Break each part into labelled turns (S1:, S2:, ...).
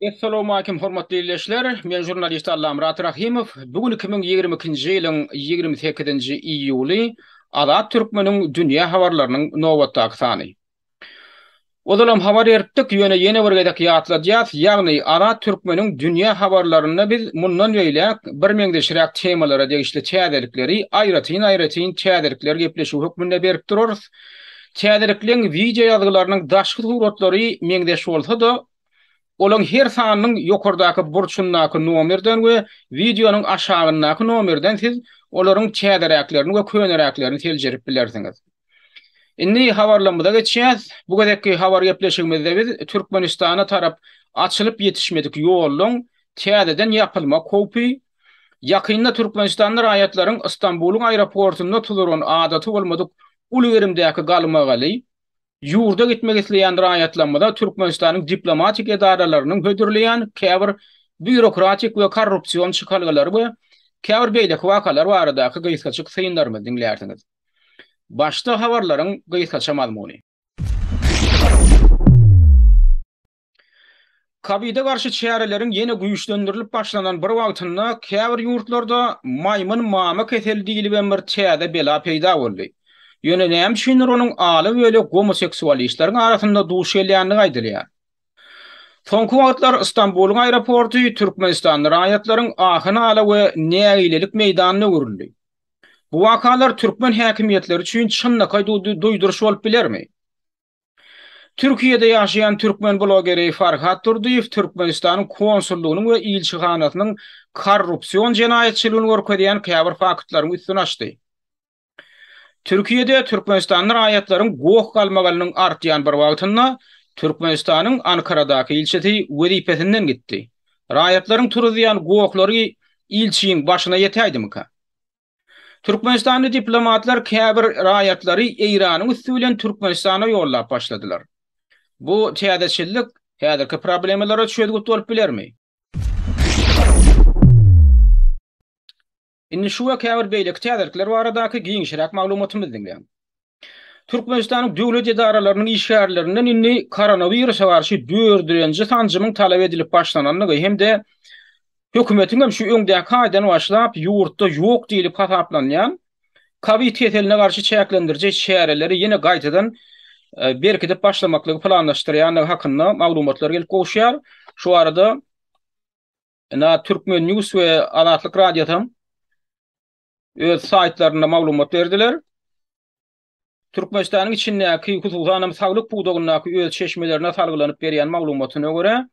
S1: Essalowmalikim hormatly ildeşler, men žurnalist Allamyrat Rahymow. Bu gün 2022-nji ýylyň 28-nji iýuly, Azat Türkmeniň dünýä habarlarynyň nobatdaky sany. Ozalam habar beripdik, ýöne ýene bir gezek ýatladýas, ýagny Azat Türkmeniň dünýä habarlarynda biz mundan beýläk birmeňzeşräk temalara degişli täzelikleri aýratyn-aýratyn täzelikler gepleşigi hökmünde berip durarys. Täzelikleň wideoýazgylarynyň daşky suratlary meňzeş bolsa-da, olaň her sanynyň ýokardaky burçundaky nomerden we wideonyň aşagyndaky nomerden siz olaryň täzeräklerini we köneräklerini seljerip bilersiňiz. Indi habarlarymyza geçýäs. Bu gezekki habar gepleşigimizde biz Türkmenistana tarap açylyp ýetişmedik ýollaryň täzeden ýapylmak howpy, ýakynda türkmenistanly raýatlaryň Stanbulyň aeroportunda tuduran adaty bolmadyk uly gerimdäki galmagaly, ýurda gitmek isleýän raýatlarymyza Türkmenistanyň diplomatik edaralarynyň hödürleýän käbir býurokratik we korrupsion çykalgalary we käbir beýleki wakalar baradaky gysgaçyk synlarymyzy diňlärsiňiz. Başda habarlaryň gysgaça mazmuny. Kowide garşy çäreleriň ýene güýçlendirilip başlanan bir wagtynda käbir ýurtlarda maýmyn mama keseli diýlibem bir täze bela peýda boldy. Ýöne näme üçindir onuň aly-böli gomoseksualistleriň arasynda duş gelýändigi aýdylýar. Soňky wagtlar Stambulyň aeroporty türkmenistanly raýatlaryň ahy-nala we nägilelik meýdanyna öwrüldi. Bu wakalar türkmen häkimiýetleri üçin çynlakaý duýduryş bolup bilermi? Türkiýede ýaşaýan türkmen blogeri Farhat Durdyýew Türkmenistanyň konsullygynyň we ilçihanasynyň korrupsion jenaýatçylygyny görkezýän käbir faktlaryň üstüni açdy. Türkiýede türkmenistanly raýatlaryň goh galmagalynyň artýan bir wagtynda, Türkmenistanyň Ankaradaky ilçisi wezipesinden gitdi. Raýatlaryň turuzýan gohlary ilçiň başyna ýetäýdimika? Türkmenistanly diplomatlar käbir raýatlary Eýranyň üsti bilen Türkmenistana ýollap başladylar. Bu täzeçillik häzirki problemalara çözgüt bolup bilermi? Indi şu we käbir beýleki täzelikler baradaky giňişräk maglumatymyzy diňläň. Türkmenistanyň döwlet edaralarynyň işgärlerinden indi koronawirusa garşy dördenji sanjymyň talap edilip başlanandygy hem-de hökümetiň hem şu öňdäki aýdan başlap ýurtda ýok diýlip hasaplanýan kowid keseline garşy çäklendiriji çäreleri ýene gaýtadan berkidip başlamaklygy planlaşdyrýandygy hakynda maglumatlar gelip gowuşýar. Şu barada Ina Turkmen News we Azatlyk Radiosy hem öz saýtlarynda maglumat berdiler. Türkmenistanyň içindäki, hususan hem saglyk pudagyndaky öz çeşmelerine salgylanyp berýän maglumatyna görä,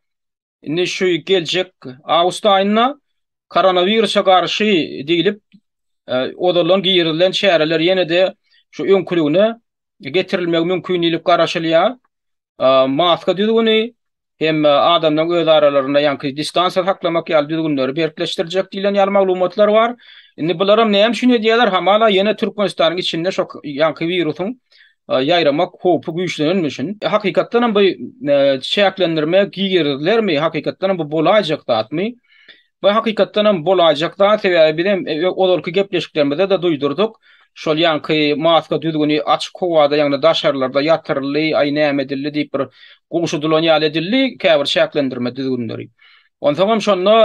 S1: indi şu geljek awgust aýynda koronawirusa garşy diýlip, ozaldan girizilen çäreler ýene-de şu öňküligine getirilmegi mümkin diýlip garaşylýar. Maska düzgüni hem adamlaryň öz aralarynda ýaňky distansiýa saklamak ýaly düzgünleri berkleşdirjek diýlen ýaly maglumatlar bar. Indi bularam näme üçin edýärler? Hamala ýene Türkmenistanyň içinde şo ýaňky wirusyň ýaýramak howpy güýçlenenmi üçin? Hakykatdan hem bu çäklendirme girizilermi? Hakykatdan hem bu bolaýjak zatmy? Bu hakykatdan hem bolaýjak zat, sebäbi biz hem ozalky gepleşiklerimizde-de duýdurdyk, şol ýaňky maska düzgüni açyk howada, ýagny daşarlarda ýatyryldy, aý näme edildi diýip bir gowşudylan ýaly edildi käbir çäklendirme düzgünleri. Onsoň hem şonda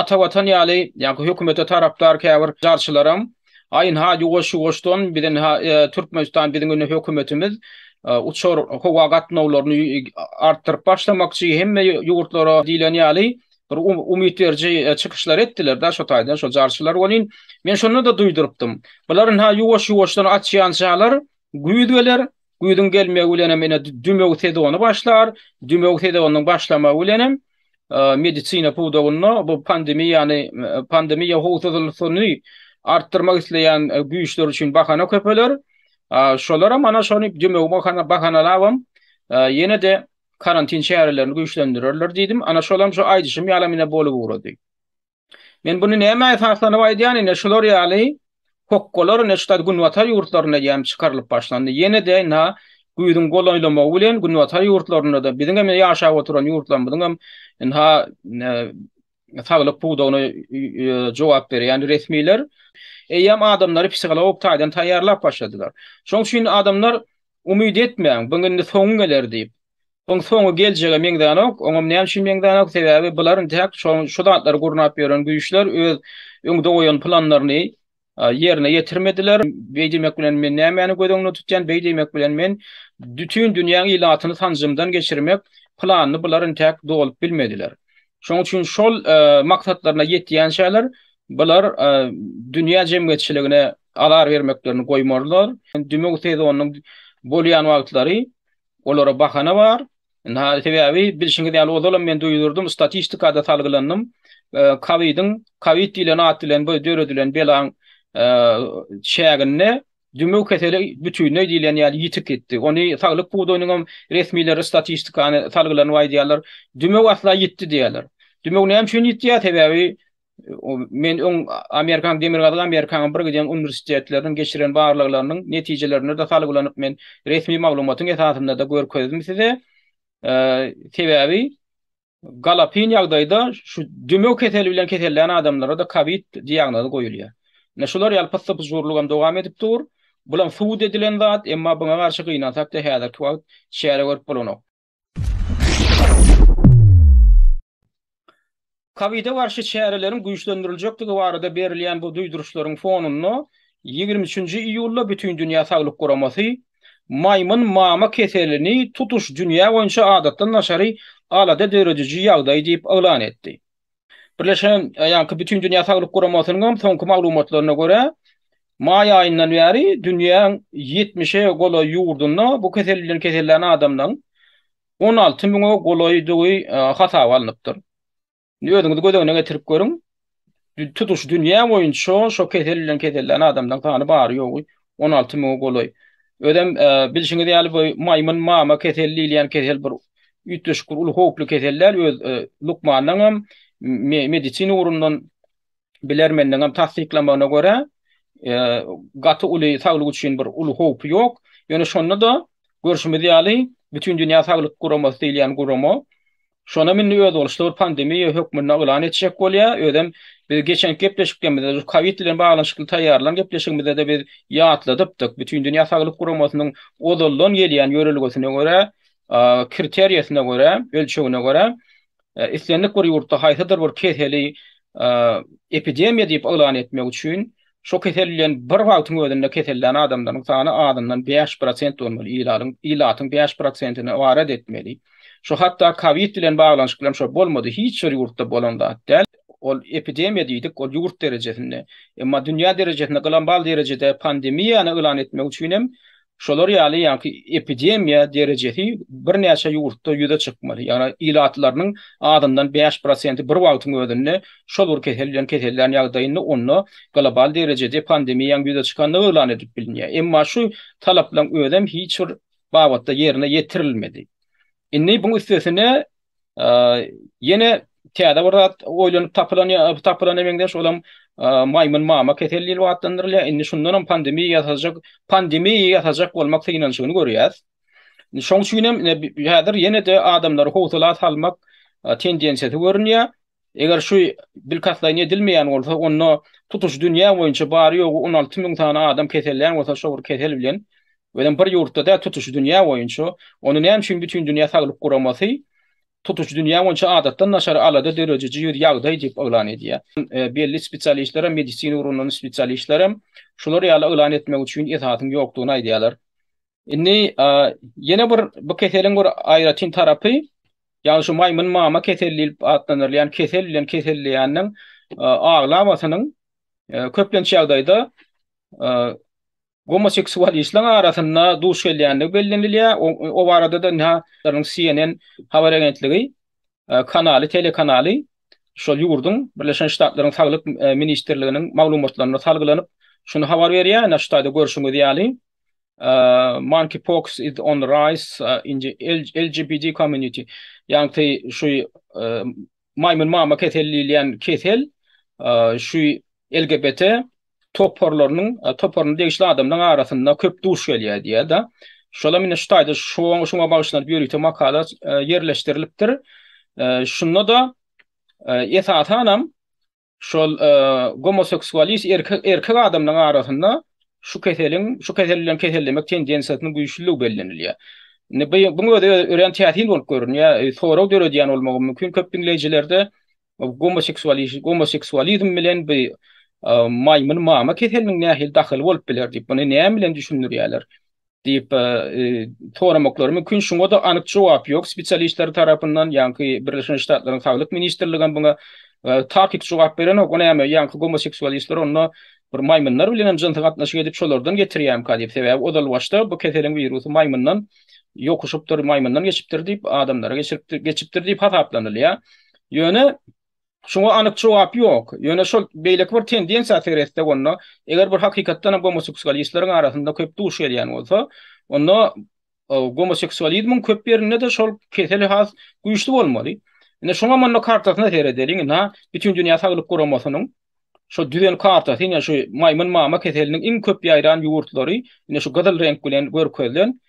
S1: Atavatan ýaly, ýaňky hökümete tarapdar käbir jarçylaram, Aýynha ýuwaş-ýuwaşdan biz indi Türkmenistan biziň indi hökümetimiz uçar howa gatnawlaryny artdyryp başlamakçy, hemme ýurtlara diýlen ýaly, bir umyt beriji çykyşlar etdiler-de şo taýdan şo jarçylar welin, men şonda-da duýdurypdym. Bular ynha ýuwaş-ýuwaşdan açýançalar güýz geler, güýzüň gelmegi bilenem ine dümew sezony başlar, dümew sezonynyň başlamagy bilenem medisina pudagynda bu pandemiýany pandemiýa howsuzlygyny artdyrmak isleýän güýçler üçin bahana köpeler. Şolaram ana şony dümew bahanalabam ýene-de karantin çärelerini güýçlendirerler diýdim. Ana şolam şu aýdyşym ýalam ine bolup ugrady. Men bunu näme esaslanyp aýdýan ine şular ýaly hokgalar ine şu günbatar ýurtlarynda ýam çykarylyp başlandy. Ýene-de na güýzüň golaýlamagy bilen günbatar ýurtlarynda-da biziňem ýaşap oturan ýurtlarymyzyňam ynha saglyk pudagyna jogap berýän resmiler eýýäm adamlary psihologik taýdan taýýarlap başladylar. Şonuň üçin adamlar umyt etmäň, buň indi soňy geler diýip. Buň soňy geljege meňzänok, oňam näme üçin meňzänok, sebäbi bular intäk şo şu zatlary gurnap ýören güýçler öz öňde goýan planlaryny ýerine ýetirmediler. Beý diýmek bilen men nämäni göz öňünde tutýan? Beý diýmek bilen men dütün dünýäň ilatyny sanjymdan geçirmek planyny bular intäk dolup bilmediler. Şoň üçin şol maksatlaryna ýetýänçäler bular dünýä jemgyýetçiligine azar bermeklerini goýmarlar. Dümew sezonynyň bolýan wagtlary Olara bahana bar. Sebäbi bilşiňiz ýaly ozalam men duýdurdym, statistikada salgylandym. Kowidiň, kowid diýlen at bilen bu döredilen belaň çäginde dümew keseli bütinleý diýlen ýaly ýitip gitdi. Ony saglyk pudagynyň hem resmileri statistikany salgylanyp aýdýarlar. Dümew asla ýitdi diýýärler. Dümew näme üçin ýitýär? Sebäbi men öň Amerikan Demirgazyk Amerikanyň bir giden uniwersitetleriniň geçiren barlaglarynyň netijelerine de salgylanyp men resmi maglumatyň esasynda-da görkezdim size. Sebäbi galapyn ýagdaýda şu dümew keseli bilen kesellän adamlara-da kowid diagnozy goýulýar. Ine şular ýaly pyssy-pyjurlygam dowam edip dur. Bulam subut edilen zat, emma buňa garşy gynansak-da häzirki wagt çäre görüp bolanok. Kowide garşy çäreleriň güýçlendiriljekdigi barada berilýän bu duýduryşlaryň fonunda, ýigrimi üçünji iýulda Bütindünýä saglyk guramasy maýmyn mama keselini tutuş dünýä boýunça adatdan daşary alada dörediji ýagdaý diýip yglan etdi. Birleşen, ýagny Bütindünýä Saglyk Guramasynyň hem soňky maglumatlaryna görä, maý aýyndan bäri dünýäň ýetmişe golaý ýurdunda bu kesel bilen kesellän adamlaryň on alty müňe golaýdygy hasaba alnypdyr. Indi özüňiz göz öňüne getirip görüň, tutuş dünýä boýunça şo kesel bilen kesellän adamlaryň sany bary-ýogy On alty müňe golaý. Özem bilşiňiz ýaly bu maýmyn mama keseli diýilýän kesel bir üýtgeşik bir uly howply kesel däl öz lukmanlaň hem medisina ugrundan bilermenleň hem tassyklamagyna görä gaty uly saglyk üçin bir uly howpy ýok. Ýöne şonda-da görşümiz ýaly Bütindünýä saglyk guramasy diýilýän gurama Şonam indi özboluşly bir pandemiýa hökmünde yglan etjek bolýar, özem biz geçenki gepleşiklerimizde şu kowid bilen baglanyşykly taýýarlan gepleşigimizde-de biz ýatladypdyk, Bütindünýä Saglyk Guramasynyň ozaldan gelýän ýörelgesine görä, kriteriýasyna görä, ölçegine görä, islendik bir ýurtda haýsydyr bir keseli epidemiýa diýip yglan etmek üçin, Şu kesel bilen bir wagtyň özünde kesellän adamlaryň sany azyndan bäş prosent bolmaly, ilatyň bäş prosentini ybarat etmeli. Şu hatda kowid bilen baglanyşykly hem şo bolmady, hiç bir ýurtda bolan zat däl. Ol epidemiýa diýdik, ol ýurt derejesinde. Emma dünýä derejesinde global derejede pandemiýany yglan etmek üçin hem Şolar ýaly ýaňky epidemiýa derejesi birnäçe ýurtda ýüze çykmaly. Ýagny ilatlarynyň azyndan bäş prosenti bir wagtyň özünde şol bir kesel bilen kesellän ýagdaýynda onda global derejede pandemiýaň ýüze çykandygy yglan edilip bilinýär. Emma şu talaplaryň özem hiç bir babatda ýerine ýetirilmedi. Indi buň üstesine Ýene täze bir zat oýlanyp tapylan ýa tapylana meňzeş olam maýmyn mama keseli diýlip atlandyrylýar. Indi şundan hem pandemiýa ýasajak, pandemiýa ýasajak bolmak synanyşygyny görýäs. Şoň üçin hem häzir ýene-de adamlary howsala salmak tendensiýasy görünýär. Eger şu bilkastlaýyn edilmeýän bolsa, onda tutuş dünýä boýunça bary-ýogy on alty müň sany adam kesellän bolsa şo bir kesel bilen, özem bir ýurtda däl, tutuş dünýä boýunça, onda näme üçin Bütindünýä saglyk guramasy tutuş dünýä boýunça adatdan daşary alada dörediji ýüz ýagdaý diýip yglan edýär? Belli spesialistlerem, medisina ugrundan spesialistlerem şular ýaly yglan etmek üçin esasyň ýokdugyny aýdýarlar. Indi ýene bir bu keseliň bir aýratyn tarapy, ýagny şu maýmyn mama keseli diýlip atlandyrylýan kesel bilen keselleýäniň aglabasynyň köplenç ýagdaýda gomoseksualistleriň arasynda duş gelýändigi bellenilýär. O barada-da CNN habar agentligi kanaly, telekanaly şol ýurduň, Birleşen Ştatlaryň Saglyk ministrliginiň maglumatlaryna salgylanyp, şuny habar berýär, ine, şu taýda görşüňiz ýaly, Monkeypox is on the rise in the LGBT community, ýagty şu maýmyn mama keseli diýilýän kesel şu LGBT toparlarynyň toparyna degişli adamlaryň arasynda köp duş gelýär diýýär-de. Şolam indi şu taýda şoňa bagyşlanyp ýörite makala ýerleşdirilipdir. Şunda-da esasan hem şol gomoseksualist erkek adamlaryň arasynda şu keseliň, şu kesel bilen kesellemek tendensiýasynyň güýçlüdigi bellenilýär. Indi bu-buň özi örän täsin bolup görünýär, sorag döredýän bolmagy mümkin köp diňleýjilerde. Gomoseksualizm bilen bu maýmyn mama keseliniň nähili dahyly bolup biler diýip, muny näme bilen düşündirýärler? diýip soramaklary mümkin. Şuňa-da anyk jogap ýok spesialistler tarapyndan, ýaňky Birleşen Ştatlaryň Saglyk ministrligem muňa takyk jogap berenok. O näme, ýaňky gomoseksualistler onda bir maýmynlar bilenem jynsy gatnaşyk edip, şolardan getirýärmika diýip. Sebäbi ozalbaşda bu keseliň wirusy maýmyndan ýokuşypdyr, maýmyndan geçipdir diýip, adamlara geçiripdir, geçipdir diýip hasaplanylýar. Ýöne şuňa anyk jogap ýok. Ýöne şol beýleki bir tendensiýa seretsek onda, eger bir hakykatdan hem gomoseksualistleriň arasynda köp duş gelýän bolsa, onda gomoseksualizmiň köp ýerinde-de şol kesel has güýçli bolmaly. Ine şuňam onda kartasyna seredeliň, ina Bütin dünýä saglyk guramasynyň şo düzen kartasy, ine şu maýmyn mama keseliniň iň köp ýaýran ýurtlary, ine şu gyzyl reňk bilen görkezilen,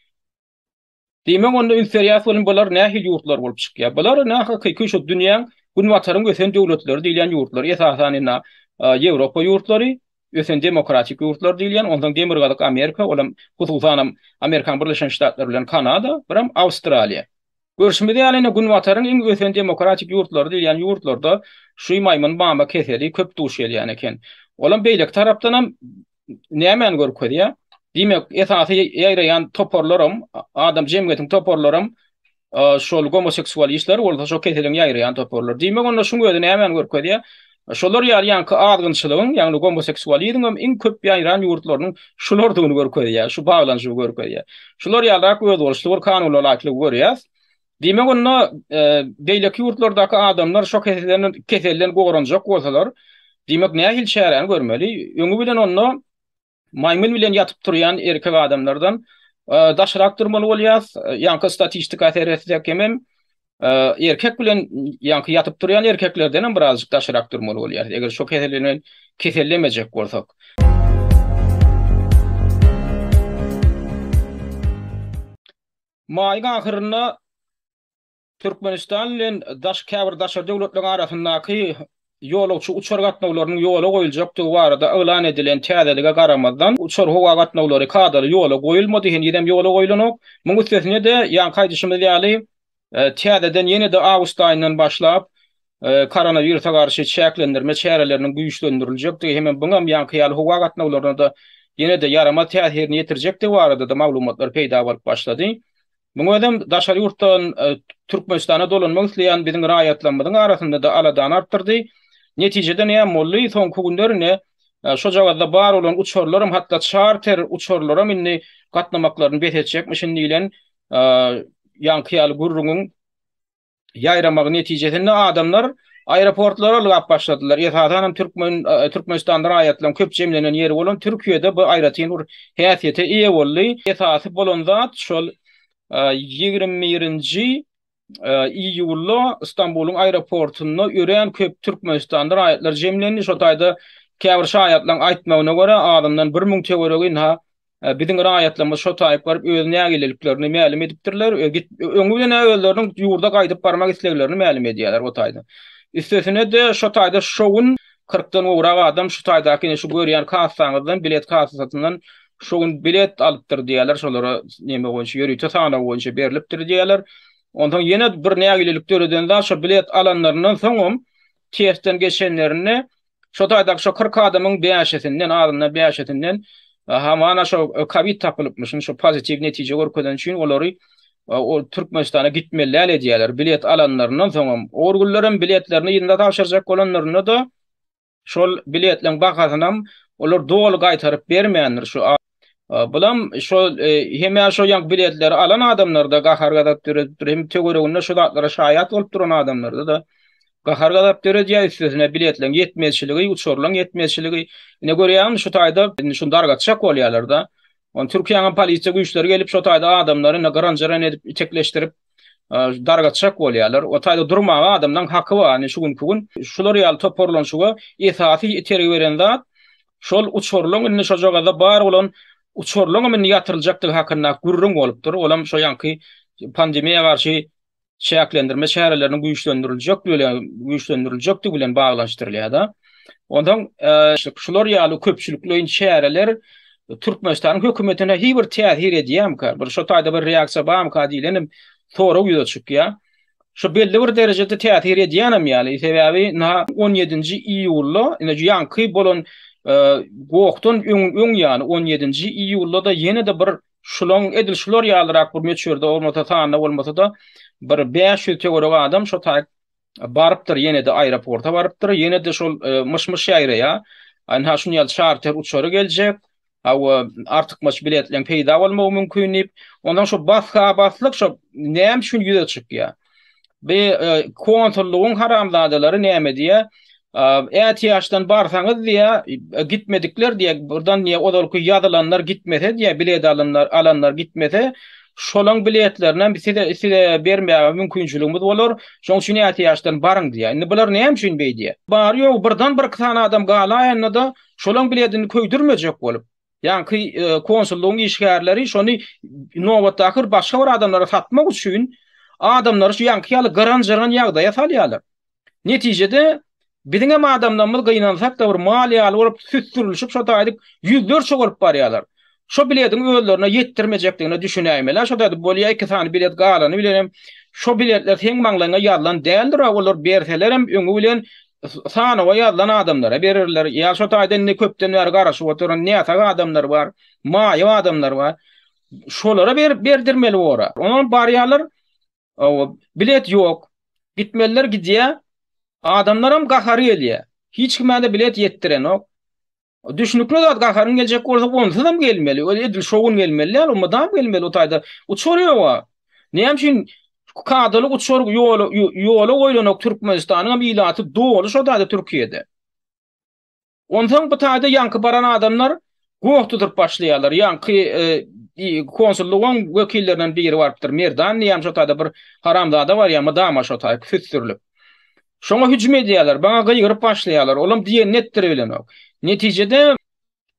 S1: Diýmek onda üns berýäs welin bular nähili ýurtlar bolup çykýar. Bular na hakyky şu dünýäň Günbataryň ösen döwletleri diýilýän ýurtlar. Esasan indi Ýewropa ýurtlary, ösen demokratik ýurtlar diýilýän, onsoň Demirgazyk Amerika, olam hususanam Amerikanyň Birleşen Ştatlary bilen Kanada, biram Awstraliýa. Görşümiz ýaly indi Günbataryň iň ösen demokratik ýurtlary diýilýän ýurtlarda şu maýmyn mama keseli köp duş gelýän eken. Olam beýleki tarapdanam nämäni görkezýär? Diýmek, esasy ýaýraýan toparlaram, adam jemgyýetiň toparlaram şol gomoseksual işler bolsa şo keseliň ýaýraýan toparlar. Diýmek, onda şuň özi nämäni görkezýär? Şolar ýaly ýaňky azgynçylygyň, ýagny gomoseksualizmiň iň köp ýaýran ýurtlarynyň şulardygyny görkezýär, şu baglanyşygy görkezýär. Şular ýalyrak özboluşly bir kanunalaýyklygy görýäs. Diýmek onda, beýleki ýurtlardaky adamlar şo keselden goranjak bolsalar, diýmek nähili çäräni görmeli? Öňi bilen onda maýmyn bilen ýatyp turýan erkek adamlardan daşrak durmaly bolýas, ýaňky statistika seretsek hemem erkek bilen ýaňky ýatyp turýan erkeklerdenem birazjyk daşrak durmaly bolýas, eger şo kesel bilen kesellemejek bolsak. Maýyň ahyrynda Türkmenistan bilen käbir daşary döwletleriň arasyndaky ýolagçy uçar gatnawlarynyň ýola goýuljakdygy barada yglan edilen täzelige garamazdan, uçar-howa gatnawlary kadaly ýola goýulmady, henizem ýola goýlanok. Munuň üstesine-de, ýaňky aýdyşymyz ýaly, täzeden ýene-de awgust aýyndan başlap, koronawirusa garşy çäklendirme çäreleriniň güýçlendiriljekdigi hem-de bu hem ýaňky ýaly howa gatnawlaryna-da ýene-de ýaramaz täsirini ýetirjekdigi barada-da maglumatlar peýda bolup başlady. Muňa özem daşary ýurtdan Türkmenistana dolanmak isleýän biziň raýatlarymyzyň arasynda-da aladany artdyrdy. Netijede näme boldy? Soňky günler indi şojagazda bar bolan uçarlaram, hatda çarter uçarlaram indi gatnamaklaryny bes etjekmişin diýlen ýaňky ýaly gürrüňiň, ýaýramagy netijesinde adamlar aeroportlara ylgap başladylar. Esasan hem türkmen Türkmenistanda raýatlaryň köp jemlenen ýeri bolan Türkiýede bu aýratyn bir häsiýete eýe boldy. Esasy bolan zat şol ýigrimi birinji iýulda Stambulyň aeroportunda örän köp Türkmenistanda raýatlar jemlendi. Şol taýda käbir şaýatlaryň aýtmagyna görä azyndan bir müň töweregi ynha Biziň raýatlarymyz şo taýyp baryp öz nägileliklerini mälim edipdirler. Öňi bilen özleriniň ýurda gaýdyp barmak isleglerini mälim edýärler o taýda. Üstesine-de şo taýda şo gün kyrkdan gowrak adam şu taýdaky ine şu görýän kassaňyzdan bilet kassasyndan şo gün bilet alypdyr diýýärler şolara neme boýunça ýörite sanaw boýunça berlipdir diýýärler. Onsoň ýene bir nägilelik döreden zat şo bilet alanlaryndan soňam testden geçenlerinde Şo taýdaky şo kyrk adamyň bäşisinden, azyndan bäşisinden hamana şo kowid tapylypmyş. Indi şo pozitiw netije görkezeni üçin olary ol Türkmenistana gitmeli däl edýärler. Bilet alanlaryndan soňam, or günlerem biletlerini ýylyna tabşyrjak bolanlarynda-da şol biletleriň bahasynam olar doly gaýtaryp bermändir. Şu Bulam şo hemä şo ýaňky biletleri alan adamlarda gahar gazap döredipdir. Hem töwereginde şu zatlara şaýat bolup duran adamlarda da gahar gazap döredýär üstesine biletleň ýetmezçiligi, uçurlaň ýetmezçiligi. Ine görýäňmi şu taýda indi şuny dargatjak bolýarlar da. Türkiýäniň polisiýa güýçleri gelip şo taýda adamlary indi gyran-jyran edip itekleşdirip. dargatjak bolýarlar. O taýda durmaga adamlaryň haky bar. Indi şu günki gün şular ýaly toparlanyşyga esasy itergi beren zat şol uçurlyň indi şojagazda bar bolan uçurlyň hem indi ýatyryljakdygy hakynda gürrüň bolupdyr. Olam şu ýanky pandemiýa garşy çäklendirme çäreleriniň güýçlendiriljekdigi bilen güýçlendiriljekdigi bilen baglanyşdyrylýar-da. Onsoň şular ýaly köpçülikleýin çäreler Türkmenistanyň hökümetine hi bir täsir edýärmika, bir şo taýda bir reaksiýa barmyka diýlen hem sorag ýüze çykýar. Şu belli bir derejede täsir edýänem ýaly, sebäbi na on ýedinji iýulda, ine şu ýaňky bolan gohdan öň ýaly on ýedinji iýulda-da ýene-de bir şulaň edil şular ýalyrak bir möçberde bolmasa sanda bolmasa-da bir bäş ýüz töweregi adam şo taý Barypdyr ýene-de aeroporta barypdyr, ýene-de şol myş-myş ýaýraýar. Ynha şuny ýaly çarter uçary geljek. Hawa, artykmaç biletleň peýda bolmagy mümkin diýip, ondan şo bas-ha-baslyk şo näme üçin ýüze çykýar? Bi konsullygyň haramzadalary näme diýýär? Ätiýaçdan barsaňyz diýä, gitmedikler diýä, burdan diýä ozalky ýazylanlar gitmese diýä, bilet alanlar alanlar gitmese, şolaň biletlerinem size size bermäge mümkinçiligimiz bolar, şoň üçin ätiýaçdan baryň diýä. Indi bular näme üçin beý diýä. Bary ýogy birden birki sany adam galaýanda-da, şolaň biledini köýdürmejek bolup, ýaňky konsullygyň işgärleri şony nobatdaky bir başga bir adamlara satmak üçin adamlary şu ýaňky ýaly gyran-jyran ýagdaýa salýarlar. Netijede, biziňem adamlarymyz gynansak-da bir mal ýaly bolup, süsdürilişip şo taýydyk ýüzlerçe bolup barýarlar. Şo bilediň özlerine ýetdirmejekdigine düşünäýmeli-ä şo taýda bolýa iki sany bilet galany bilenem şo biletler seň maňlaýyňa ýazylan däldir-ä olar berselerem öňi bilen sanawa ýazylan adamlara bererler ýa şo taýda indi köpden bäri garaşyp oturan näsag adamlar bar maýyp adamlar bar şolara berip berdirmeli bor-a onam barýarlar Hawa, bilet ýok. Gitmeliler gidýär. Adamlaram gahary gelýär. Hiç kimä-de bilet ýetdirenok. Düşnükli zat, gaharyň geljek bolsa, onsuzam gelmeli. Öl edil şo gün gelmeli däl, o mydam gelmeli o taýda. Uçar ýog-a. Näme üçin kadaly uçar ýola ýola goýlanok Türkmenistanyňam ilaty doly şo taýda Türkiýede. Onsoň bu taýda ýaňky baran adamlar goh tutup başlaýarlar. Ýaňky konsullygyň wekillerinden biri barypdyr. Merdan diýýän şo taýda bir haramzada barýar, mydama şo taý süsdürilip. Şoňa hüjüm edýärler, baňa gygyryp başlaýarlar. Olam diýenini etdiribilenok. Netijede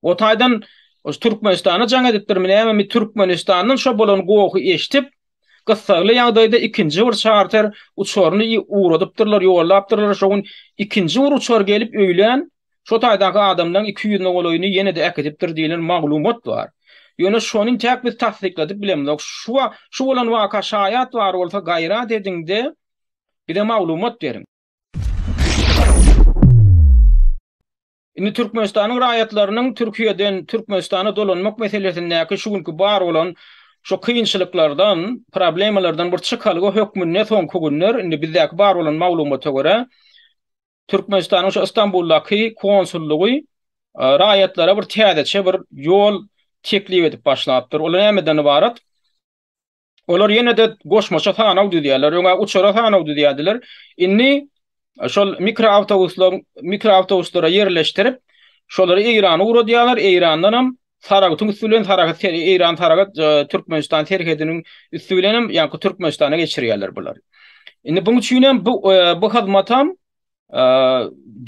S1: o taýdan Türkmenistana jaň edipdirmi näme, Türkmenistandan şo bolan gohy eşdip, Gyssagly ýagdaýda ikinji bir çarter uçaryny ugradypdyrlar, ýollapdyrlar, şo gün ikinji bir uçar gelip öýlän şo taýdaky adamlaryň iki ýüzüne golaýyny ýene-de äkidipdir diýlen maglumat bar. Ýöne şony intäk biz tassykladyp bilemzok. Şu wak, şu bolan waka şaýat bar bolsa gaýrat ediňde bize maglumat beriň. Indi Türkmenistanyň raýatlarynyň Türkiýeden Türkmenistana dolanmak meselesindäki şu günki bar bolan şu kynçylyklardan, problemalardan bir çykalga hökmünde soňky günler, indi bizdäki bar bolan maglumata görä, Türkmenistanyň şu Istanbuldaky konsullygy raýatlara bir täzeçe bir ýol teklip edip başlapdyr. Ol nämeden ybarat? Olar ýene-de goşmaça sanaw düzýärler. Öňe uçara sanaw düzýärdiler. Indi e, şol mikroawtobuslaryň mikroawtobuslara ýerleşdirip, şolary Eýrana ugradýarlar. Eýrandan hem Saragtyň üsti bilen Saragat Eýran Saragat e, Türkmenistan serhediniň üsti bilen hem ýa-da Türkmenistana geçirýärler bular. Indi bu üçin hem bu e, bu hyzmat hem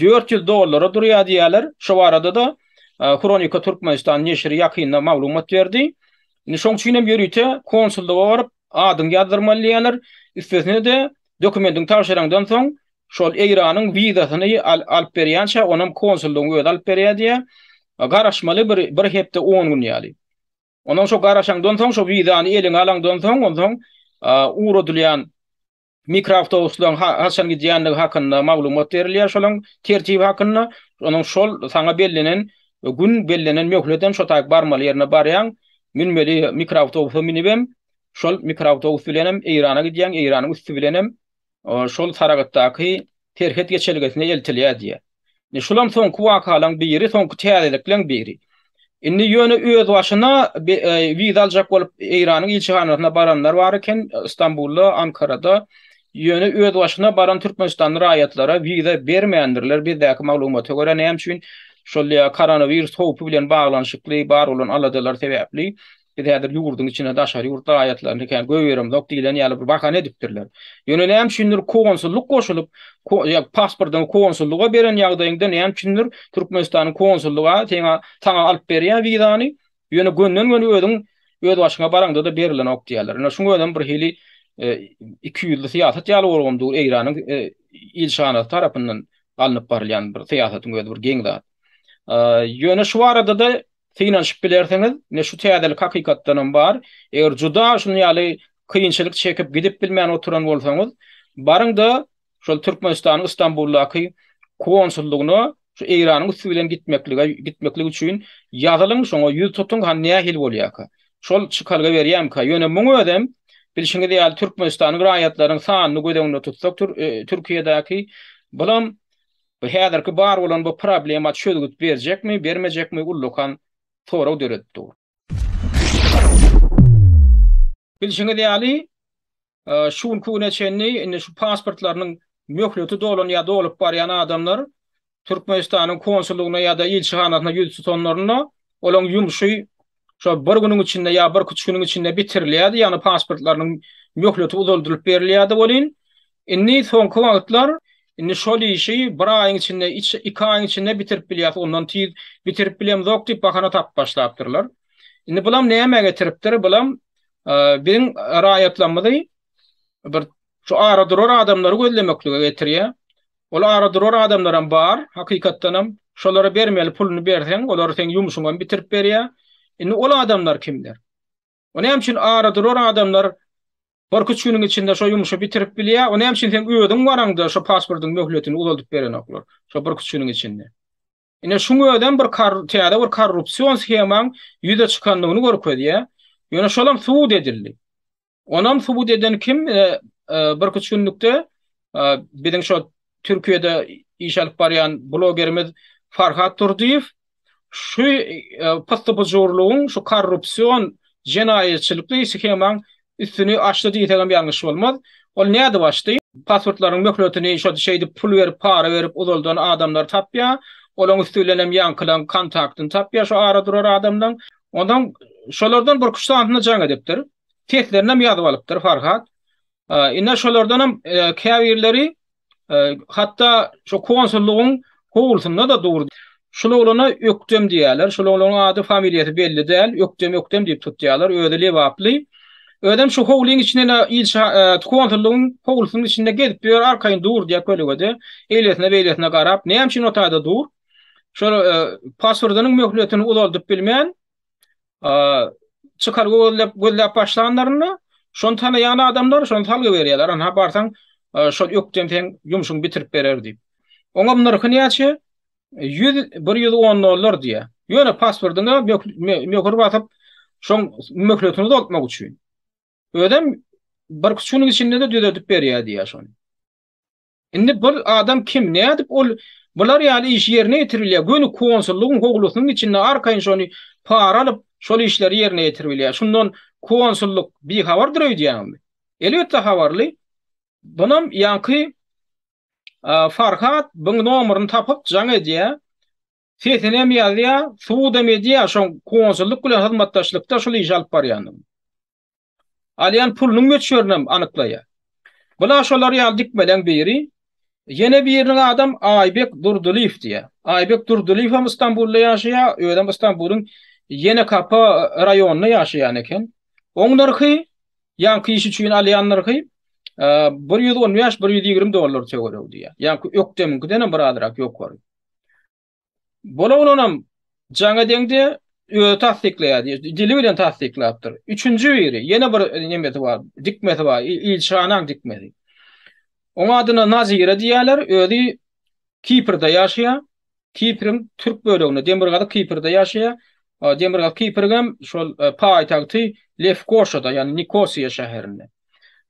S1: dört ýüz dollara durýar diýýärler. Şu barada-da Hronika Türkmenistan neşiri ýakynda maglumat berdi. Indi şoň üçin hem ýörite konsullyga baryp, adyňy ýazdyrmaly diýýärler. Üstesine-de, dokumentiňi tabşyraňdan soň, şol Eýranyň wizasyny alyp berýänçä, ony hem konsullygyň özi alyp berýär diýýär. Garaşmaly bir hepde on gün ýaly. Ondan soň garaşaňdan soň, şo wizany eliňe alaňdan soň, onsoň ugradylýan Mikroawtobuslaryň haçan gidýändigi hakynda maglumat berilýär, şolaryň tertibi hakynda, onuň şol saňa bellenen gün bellenen möhleden şo taýyk barmaly ýerine barýaň, münmeli mikroawtobusa münübem, şol mikroawtobus bilenem Eýrana gidýäň, Eýranyň üsti bilenem şol Saragtdaky serhet geçelgesine eltilýär diýýär. Indi şulam soňky wakalaň biri, soňky täzelikleň biri. Indi ýöne özbaşyna wiza aljak bolup Eýranyň ilçihanasyna baranlar bar eken, Stambulda, Ankarada. Ýöne özbaşyna baran türkmenistanly raýatlara wiza bermändirler, bizdäki maglumata görä. Näme üçin? Şol ýa koronawirus howpy bilen baglanyşykly bar bolan aladalar sebäpli. Biz häzir ýurduň içine daşary ýurt raýatlaryny kä goýberemzok diýlen ýaly bir bahana edipdirler. Ýöne näme üçindir konsullyk goşulyp, pasportyňy konsullyga beren ýagdaýyňda näme üçindir Türkmenistanyň konsullyga seňa saňa alyp berýär wizany, ýöne gönden-göni özüň öz başyňa baraňda-da berilenok diýýärler. Ine şuň özem bir hili iki ýüzli syýasat ýaly bolgam dur Eýranyň ilçihanasy tarapyndan alnyp barylýan bir syýasatyň özi bir geň zat. Ýöne şu barada-da synanyşyp bilersiňiz, ine şu täzelik hakykatdanam bar. Eger juda şuny ýaly kynçylyk çekip gidip bilmän oturan bolsaňyz, baryňda şol Türkmenistanyň Istanbuldaky konsullygyna şu Eýranyň üsti bilen gitmeklige gitmeklik üçin ýazylyň şoňa ýüz tutuň ha nähili bolýarka. Şol çykalga berýämka. Ýöne muň özem bilşiňiz ýaly Türkmenistanyň raýatlaryň sanyny göz öňünde tutsak Türkiýedäki bulam Bu häzirki bar bolan bu problema çözgüt berjekmi, bermejekmi ullakan sorag döredip dur. Bilşiňiz ýaly, şu günki güne çenli indi şu pasportlarynyň möhleti dolan ýa dolup barýan adamlar Türkmenistanyň konsullygyna ýa-da ilçihanasyna ýüz tutanlarynda olaryň ýumşy şol bir günüň içinde ýa birki üç günüň içinde bitirilýärdi, ýagny pasportlarynyň möhleti uzaldylyp berilýärdi welin, indi soňky wagtlar indi şol işi bir aýyň içinde, iki aýyň içinde bitirip bilýäs, ondan tiz bitirip bilemzok diýip bahana tapyp başlapdyrlar. Indi bulam nämä getiripdir? Bulam biziň raýatlarymyzy bir şu ara durar adamlary gözlemeklige getirýär. Ol ara durar adamlaram bar, hakykatdanam, şolara bermeli puluny berseň, olar seň ýumşuňam bitirip berýä. Indi ol adamlar kimler? O näme üçin ara durar adamlar birküç günüň içinde şo ýumşy bitirip bilýä, o näme üçin seň özüň baraňda şo pasportyň möhletini uzaldyp berenoklar, şo birküç günüň içinde? Ine şuň özem bir täze bir korrupsion shemaň ýüze çykandygyny görkezýär. Ýöne şolam subut edildi. Onam subut eden kim? Bir iki günlükde biziň şo Türkiýede iş alyp barýan blogerimiz Farhat Durdyýew şu pyssy-pyjurlygyň, şu korrupsion jenaýatçylykly shemaň Üstüni açdy diýsegem ýalňyş bolmaz. Ol nädip açdy? Pasportlaryň möhletini şo şeýdip pul berip, para berip uzaldan adamlary tapýa. Olaň üsti bilenem ýaňkylaň kontaktyny tapýa şo ara durar adamlaň. Onsoň şolardan birki-üç sanysyna jaň edipdir. Seslerinem ýazyp alypdyr Farhat. Ine şolardanam käbirleri hatda şo konsullugyň howlusynda-da durdy. Şul oglana Ökdem diýýärler. Şul oglanyň ady, familiýasy belli däl. Ökdem, Ökdem diýip tutýarlar. Özi lebaply. Özem şo howlyň içinde-de ilçi, konsullugyň howlusynyň içinde gezip ýör, arkaýyn durdy-da kölegede. Eýlesine-beýlesine garap, näme üçin o taýda dur? Şol pasportynyň möhletini uzaldyp bilmän, çykalga gözläp gözläp başlanlarynda şony tanaýan adamlar şony salgy berýärler ana barsaň şol ökden seň ýumşuňy bitirip berer diýip oňam nyrhy näçe ýüz bir ýüz on dollar diýýär ýöne pasportyňa möhür basyp şoň möhletini uzaltmak üçin özem bir iki günüň içinde-de düzedip berýär diýýär şony Indi bir adam kim, nädip ol bular ýaly iş ýerine ýetirip bilýär? Göni konsullygyň howlusynyň içinde arkaýyn şony para alyp, şol işleri ýerine ýetirip bilýär. Şundan konsullyk bihabardyr öýdýäňizmi? Elbetde habarly. Bunam ýaňky Farhat buň nomeryny tapyp jaň edýär. Sesinem ýazýar, subut hem edýär şoň konsullyk bilen hyzmatdaşlykda şul işi alyp barýandygyny. alýan pulunyň möçberinem anyklaýar. Bu-la şolar ýaly dikmeleň biri. Ýene biriniň adam Aýbek Durdylyýew diýýär. Aýbek Durdylyýew hem Stambulda ýaşaýar, özem Stambulyň Ýenekapa raýonynda ýaşaýan eken. Oň nyrhy, ýaňky iş üçin alýan nyrhy bir ýüz on bäş-bir ýüz ýigrimi dollar töweregi diýýär. Ýaňky ökdemiňkidenem birazrak ýokary. Bola bolanam jaňa deňde özi tassyklaýar, dili bilen tassyklapdyr. Üçünji biri, ýene bir nemesi bar, dikmesi bar, ilçihanaň dikmesi. Oň adyna Nazire diýýärler, özi Kiprde ýaşaýar. Kipriň türk böleginde, Demirgazyk Kiprde ýaşaýar. Demirgazyk Kiprigem şol e, paýtagty Lefkoşada, ýagny Nikosiýa şäherinde.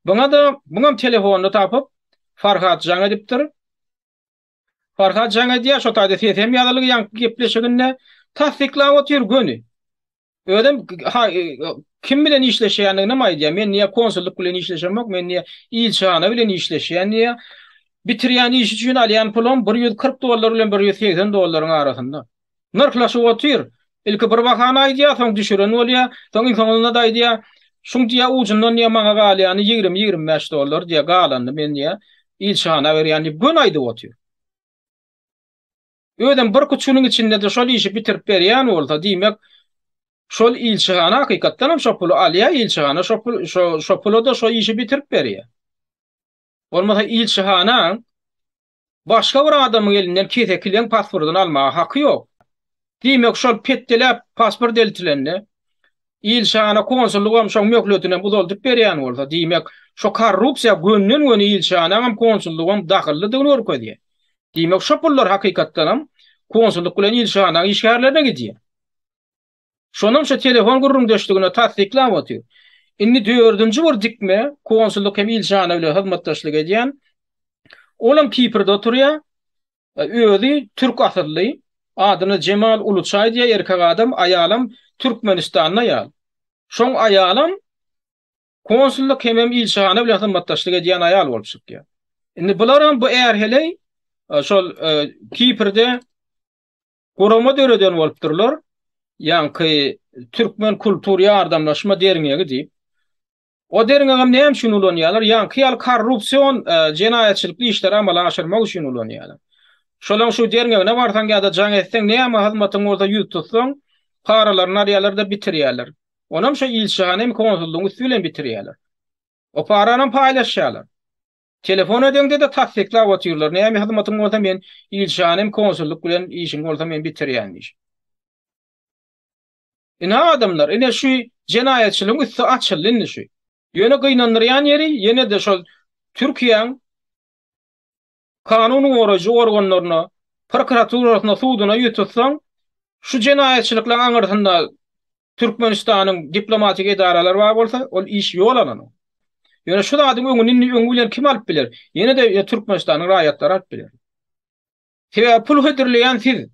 S1: Buňa-da, buňam telefonda tapyp, Farhat jaň edipdir. Farhad jaň edýär şo taýda sesem ýazylgy ýaňky gepleşiginde tassyklap otyr göni. Özem ha e, kim bilen işleşýändiginem aýdýar. Men niýe konsullyk bilen işleşemok, men niýe ilçihana bilen işleşýän diýýär. Bitirýän iş üçin alýan pulum 140 dollar bilen 180 dollaryň arasynda. Nyrhlaşyp otyr. Ilki bir bahany aýdýar, soň düşüren bolýar, soň iň soňunda-da aýdýar, Şuň diýýär, ujundan diýýär, maňa galýany ýigrimi-ýigrimi bäş dollar diýýär, galanyny men diýýär, ilçihana berýän diýip göni aýdyp otyr. Özem bir kuçunyň içinde-de şol işi bitirip berýän bolsa, diýmek, şol ilçihana hakykatdan hem şo puly alýar, ilçihana şo pul, şo, şo pula-da şo işi bitirip berýär. Bolmasa ilçihana Başga bir adamyň elinden keseki leň pasportyny almaga haky ýok. Diýmek, şol petdeläp pasport eltilende, ilçihana konsullygam şoň möhletinem uzaldyp berýän bolsa, diýmek, şo korrupsiýa gönden-göni ilçihanaňam, konsullygam dahyllydygyny görkezýär. Diýmek, şo pullar hakykatdanam konsullyk bilen ilçihanaň işgärlerine gidýär. Şonam şu telefon gürrüňdeşligini tassyklap otyr. Indi dördünji bir dikme, konsullyk hem ilçihana bilen hyzmatdaşlyk edýän. Olam Kiprde oturýar. Özi türk asylly. Adyna Jemal Uluçaý diýýär, erkek adam, aýalam Türkmenistanda ýaly. Şoň aýalam konsullyk hemem ilçihana bilen hyzmatdaşlyk edýän aýal bolup çykýar. Indi bularam bu är heleý şol Kiprde Gurama döreden bolupdyrlar, ýaňky Türkmen kultur ýardamlaşma derňegi diýip. O derňegem näme üçin ulanýarlar? Ýaňky ýaly korrupsion jenaýatçylykly işleri amala aşyrmak üçin ulanýarlar. Şolaň şu derňegine barsaň ýa-da jaň etseň, näme hyzmatyň bolsa ýüz tutsaň, paralaryny alýarlar-da bitirýärler. Onam şo ilçihana hem konsullygyň üsti bilen bitirýärler. O paranam paýlaşýarlar. Telefon edeňde-de tassyklap otyrlar, näme hyzmatyň bolsa men ilçihanem, konsullyk bilen işiň bolsa men bitirýän diýş. Ine adamlar, ine şu jenaýatçylygyň üsti açyldy indi şu. Ýöne gynandyrýan ýeri ýene-de şol Türkiýäň kanun goraýjy organlaryna, prokuraturasyna, suduna ýüz tutsaň, şu jenaýatçylyklaň aňyrsynda Türkmenistanyň diplomatik edaralary bar bolsa, ol iş ýol alanyň. Ýöne şu zadyň öňüni indi öňi bilen kim alyp biler? Ýene-de ýa Türkmenistanyň raýatlary alyp biler. Sebäbi pul hödürleýän siz.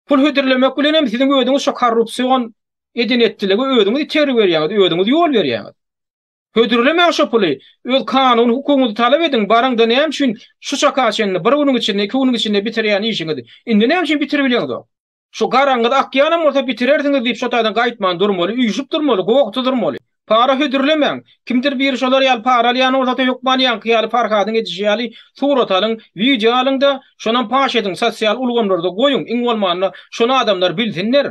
S1: Pul hödürlemek bilen hem siziň özüňiz şo korrupsion eden-etdiligi özüňiz itergi berýäňiz, özüňiz ýol berýäňiz. Hödürlemäň şo puly, öz kanuny hukugyňyzy talap ediň, baryň-da näme üçin şu çaka çenli bir günüň içinde, iki günüň içinde bitirýän işiňizi indi näme üçin bitirip bileňzok? Şu garaňyz akýanam bolsa bitirersiňiz diýip şo taýdan gaýtman durmaly, üýşüp durmaly, gowakda durmaly. Para hödürlemäň. Kimdir biri şolar ýaly para alýan bolsa-da hökman ýaňky ýaly Farhadyň edişi ýaly surat alyň, wideo alyň-da, şonam paş ediň, sosial ulgamlarda goýuň, iň bolmanda şony adamlar bilsinler.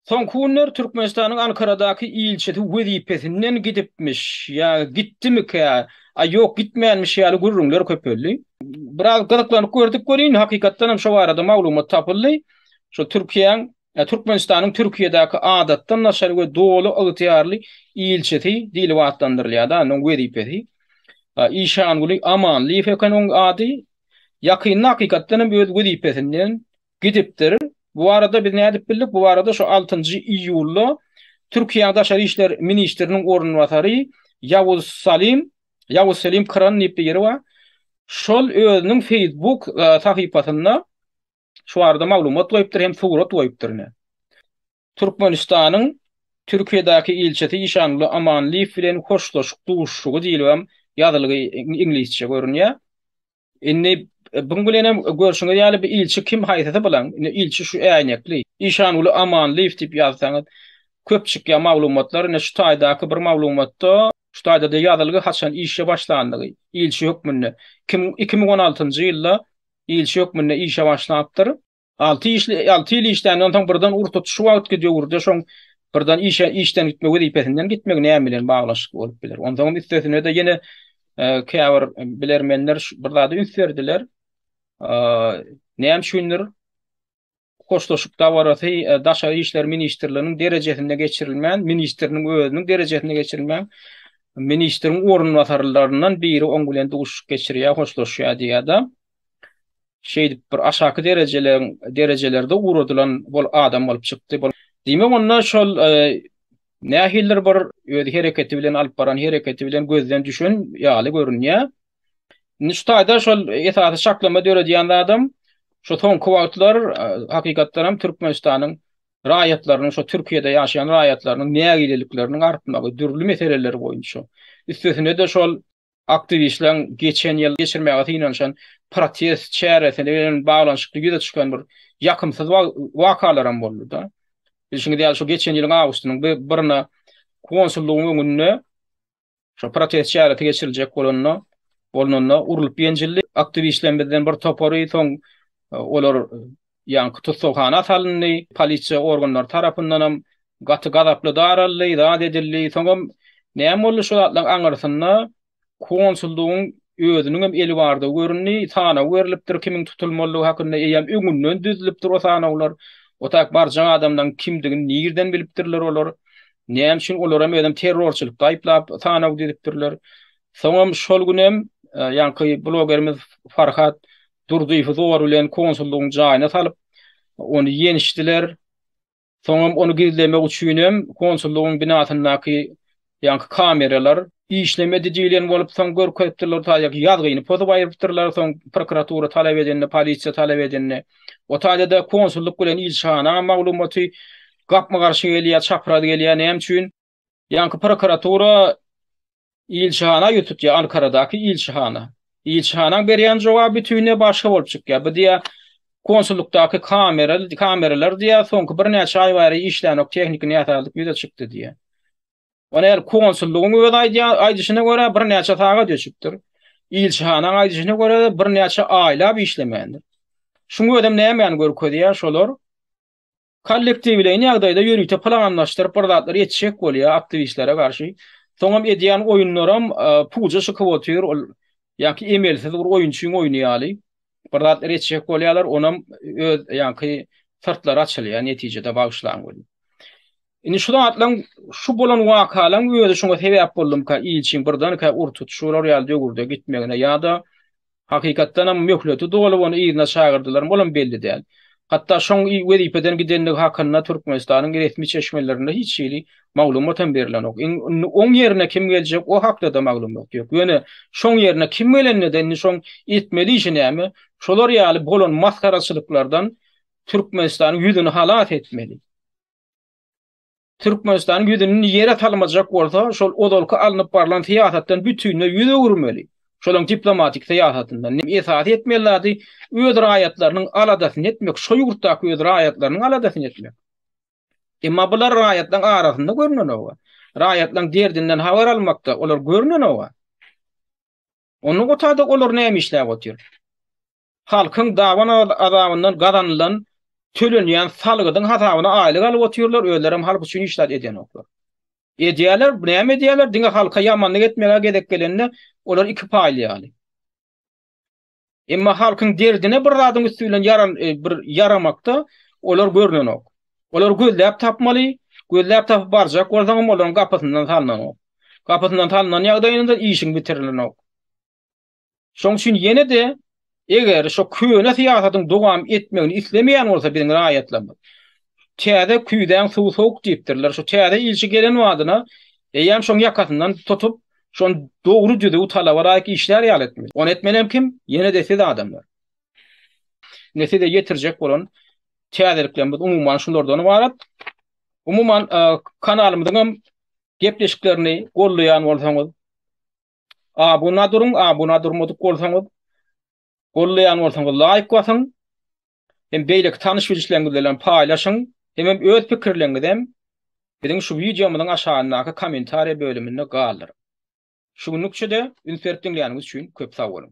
S1: Soňky günler Türkmenistanyň Ankaradaky ilçisi wezipesinden gidipmiş ýa gitdimikä, a ýok gitmänmiş ýaly gürrüňler köpeldi. Biraz gyzyklanyp gördük welin, hakykatdan hem şo barada maglumat tapyldy. Şo Türkiýäň, Türkmenistanyň Türkiýedäki Adatdan daşary we Doly ygtyýarly ilçisi diýlip atlandyrylýar-da, onuň wezipesi. Işanguly Amanlyýew eken oň ady. Ýakynda hakykatdan hem öz wezipesinden gidipdir. Bu barada biz nädip bildik? Bu barada şu altynjy iýulda Türkiýäň daşary işler ministriniň orunbasary Ýawuz Salim, Ýawuz Selim Kran diýip bir ýeri bar. Şol özüniň Facebook sahypasynda şu barada maglumat goýupdyr hem surat goýupdyr ine. Türkmenistanyň Türkiýedäki ilçisi Işanguly Amanlyýew bilen hoşlaşyk duşuşygy diýlibem ýazylgy iňlisçe görünýär. Indi buň bilenem görşüňiz ýaly bu ilçi kim haýsysy bilen? Indi ilçi şu äýnekli. Işanguly Amanlyýew diýip ýazsaňyz köp çykýar maglumatlar. Ine şu taýdaky bir maglumatda şu taýda-da ýazylgy haçan işe başlandygy, ilçi hökmünde. Kim iki müň on altynjy ýylda ilçi hökmünde işe başlapdyr. Alty işli, alty ýyl işländen soň birden ur tut, şu wagtky döwürde şoň birden işe, işden gitme, wezipesinden gitmek näme bilen baglaşykly bolup biler? Onsoňam üstesine-de ýene e, käbir bilermenler bir zada üns berdiler. E, näme üçindir hoşlaşyk dabarasy e, daşary işler ministrliginiň derejesinde geçirilmän, ministriniň özüniň derejesinde geçirilmän, ministriň orunbasarlaryndan biri oň bilen duşuşyk geçirýär, hoşlaşýar diýýär-de. şeýdip bir aşaky derejeleriň derejelerde ugradylan bol adam bolup çykdy. Diýmek onda şol e, nähildir bir öz hereketi bilen alyp baran hereketi bilen gözden düşen ýaly görünýär. Indi şu taýda şol esasy şaklama döredýän adam şu soňky wagtlar e, hakykatdan hem Türkmenistanyň raýatlarynyň şu Türkiýede ýaşaýan raýatlarynyň nägilelikleriniň artmagy, dürli meseleler boýunça. Üstesine-de şol Aktiwistleriň geçen ýyl geçirmäge synanyşan protest çäresi bilen baglanyşykly ýüze çykan bir ýakymsyz wakalaram boldy-da. Bilşiňiz ýaly, şu geçen ýylyň awgustynyň birinde konsullygyň öňünde şu protest çäresi geçiriljek bolanda, bolnanda urlup-ýenjildi. Aktiwistlerimizden bir topary soň olar ýaňky tussaghana salyndy, polisiýa organlary tarapyndanam gaty gazaply daraldy, zat edildi, soňam näme boldy şu zatlaryň aňyrsynda konsullygyň özüniňem eli bardygy göründi, sanaw berlipdir, kimiň tutulmalydygy hakynda, eýýäm öňünden düzülipdir o sanawlar, otaýk barjak adamlaryň kimdigini nirden bilipdirler olar, näme üçin olaram özem terrorçylykda aýyplap sanaw düzüpdirler, soňam şol günem ýaňky blogerimiz Farhat Durdyýewi zor bilen konsullygyň jaýyna salyp, ony ýençdiler. Soňam ony gizlemek üçinem konsullygyň binasyndaky ýaňky kameralar. Işlemedi diýlen bolup, soň görkezipdirler, taýýak ýazgyny pozup aýrypdyrlar, soň prokuratura talap edende, polisiýa talap edende. O taýda-da konsullyk bilen ilçihana maglumaty gapma-garşy gelýär, çapraz gelýär, näme üçin? Ýaňky prokuratura ilçihana ýüz tutýar, Ankaradaky ilçihana. Ilçihanaň berýän jogaby bütinleý başga bolup çykýar. Bu diýýär, konsullykdaky kamera, kameralar diýýär, soňky birnäçe aý bäri işlänok, tehniki näsazlyk ýüze çykdy diýýär. Ony el konsullygyň özi aýdýar, aýdyşyna görä birnäçe sagat öçüpdir. Ilçihanaň aýdyşyna görä birnäçe aýlap işlemändir. Şuň özem nämäni görkezýär şolar? Kollektiwleýin ýagdaýda ýörite planlaşdyryp bir zatlar etişek bolýar aktiwistlere garşy. Soňam edýän oýunlaram puja çykyp otyr, ol ýaňky emelsiz bir oýunçyň oýny ýaly. Bir zatlar etişek bolýarlar, onam öz ýaňky syrtlary açylýar netijede bagyşlaň welin. Indi şu zatlaň şu bolan wakalaň özi şuňa sebäp boldumyka ilçiň birdenkä ur tutuşyp olar ýaly döwürde gitmegine ýa-da Hakykatdanam, möhleti dolup, ony yzyna çagyrdylarmy, olam belli däl. Hatda şoň wezipeden gidendigi hakynda Türkmenistanyň resmi çeşmelerinde hiç hili maglumatam berilenok. Indi oň ýerine kim geljek, o hakda-da maglumat ýok. Ýöne, şoň ýerine kim gelende-de, indi şoň etmeli işi näme? Şolar ýaly bolan masgaraçylyklardan Türkmenistanyň ýüzüni halas etmeli. Türkmenistanyň ýüzüni ýere salmajak bolsa, şol ozalky alnyp barlan syýasatdan bütinleý ýüz öwürmeli. Şolaň diplomatik syýasatyndan esasy etmeli zady öz raýatlarynyň aladasyny etmek, şo ýurtdaky öz raýatlarynyň aladasyny etmek. Emma bular raýatlaň arasynda görnenok-a. Raýatlaň derdinden habar almakda olar görnenok-a. Ondan gutarda olar näme işläp otyr? Halkyň daban azabyndan gazanylan tölenýän salgydyň hasabyna aýlyk alyp otyrlar, özlerem halk üçin hiç zat edýänoklar. Edýärler, näme edýärler, diňe halka ýamanlyk etmegä gezek gelende olar iki paýly ýaly. Emma halkyň derdine bir zadyň üsti bilen bir ýaramakda olar görnenok. Olar gözläp tapmaly, gözläp tapyp barjak bolsaňam olaryň gapysyndan salnanok. Gapysyndan salnan ýagdaýynda işiň bitirilenok. Şoň üçin ýene-de eger şu köne syýasatyň dowam etmegini islemeýän bolsa biziň raýatlarymyz, täze küýzäň suwy sowuk diýipdirler, şu täze ilçi gelen badyna eýýäm şoň ýakasyndan tutup, şony dogry düzüw talaba laýyk işlär ýaly etmeli. Ony etmelem kim? Ýene-de siz adamlar. Indi size ýetirjek bolan täzeliklerimiz umuman şulardan ybarat. Umuman kanalymyzyň hem gepleşiklerini gollaýan bolsaňyz, Abuna duruň, abuna durmadyk bolsaňyz, gollaýan bolsaňyz laýk basyň. Hem beýleki tanyş-bilişleriňiz bilen paýlaşyň. Hemem öz pikirleriňizem biziň şu wideomyzyň aşagyndaky kommentariýa bölüminde galdyryň. Şu günlükçe-de üns berip diňläniňiz üçin köp sag boluň.